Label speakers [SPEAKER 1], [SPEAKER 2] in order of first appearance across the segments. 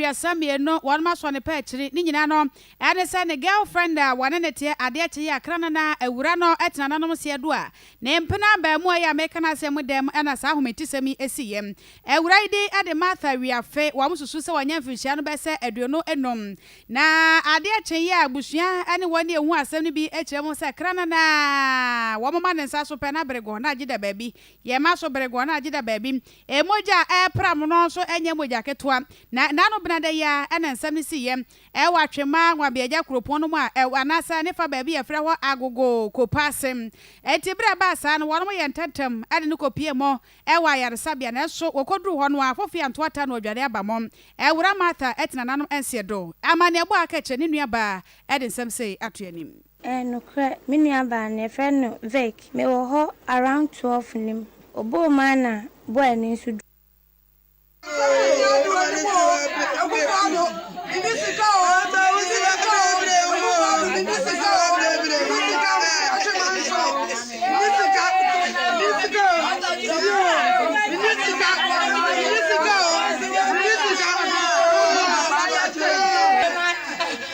[SPEAKER 1] aduasa mmienu wɔn mo asɔ ne pɛ akyiri ne nyinaa no ɛne sɛ ne girl friend a wɔne no teɛ adeɛ kye yi akra no na awura no tena nanom seɛ do a ne mpena abaamua yi a meka no asɛm mu dɛm na saa ahometisɛm yi siiɛ awura yi din de Martha Wiafe wɔn susu sɛ wɔnyɛ mfirihyia no bɛsɛ aduonu enum na adeɛ kye yi a abusua ne wɔn ni ɛho asɛm no bi kyerɛ mu sɛ kra no na wɔn ma ne nsa so pɛ na bere go na gyeda baabi yɛn ma so bere go na gyeda baabi Mogya a ɛrepram no nso nyɛ mogya ketewa, na n'ano benadɛ yi ara na nsɛm no siiɛ wɔ Atwemma Nwabeagya kuropɔn no mu a ɛwɔ anaasɛ ne fa baabi a yɛfrɛ hɔ Agogo Kopa ase. Enti berɛ a ɛbaa saa no, wɔnom yɛɛ ntɛmntɛm de no kɔpiee mɔ wɔ ayaresabea, nanso wɔkɔduruu hɔ no a Afofia Ntoata na ɔdware aba mɔ. Awuraa Martha te nananom nseɛ do. Amanneɛbɔ a aka akyire ne nuabaa de nsɛm sei ato anim. Eh nokorɛ
[SPEAKER 2] me nua baa no yɛfrɛ no Vic me wɔ hɔ around twelve nim ɔbɔɔ mu ana boy no nso du.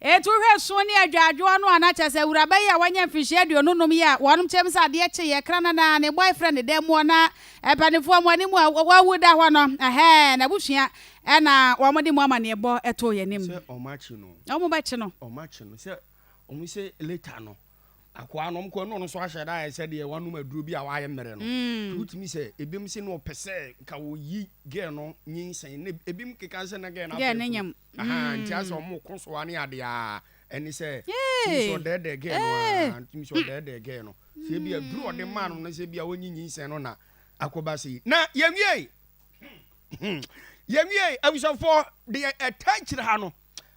[SPEAKER 1] Etu hwɛ sõ ne adwadwoɔ no a na kyerɛ sɛ awuraba yi a wanya mfirihyia aduonu nnum yi a wɔnom kyerɛm sɛ adeɛ kye yɛ kra nana ne boyfriend ne dɛm muɔ na mpaninfoɔ moa ne mu a wawu da hɔ no ɛhɛɛ n'abusua ɛna wɔn de mu amaneɛbɔ ɛtoo yɛn anim. Sɛ wɔn akye no.
[SPEAKER 3] Wɔn bɛkye no. Wɔn
[SPEAKER 1] akye no sɛ
[SPEAKER 3] wɔn sɛ later no. akoa nom kɔ ɛno ɔno nso ahyɛ da ayɛ sɛ deɛ wanom aduro bi a wayɛ mmerɛ no mm. wotumi sɛ ebinom sɛ no ɔpɛ sɛ nka wɔyi gɛɛ no nyinsɛn ne ebinom keka sɛ na gɛɛ no apɛ funu aha
[SPEAKER 1] nti asɛ mm. ɔmo
[SPEAKER 3] ko so ane adeɛ a ɛne sɛ tumi sɛ ɔdɛɛdɛɛ gɛɛ no a tumi sɛ ɔdɛɛdɛɛ gɛɛ no sɛ ebi aduro ɔde maa no no sɛ ebi a wɔnyi nyinsɛn no na akɔba se yi na yɛwie yɛwie abusuafoɔ deɛ ɛtaa kyerɛ ha no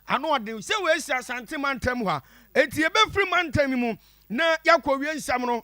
[SPEAKER 3] Ano ɔden sɛ wɔasi Asante mantam hɔ a enti yɛbɛfiri mantam yi mu na yɛakɔwie nsɛm no wɔ.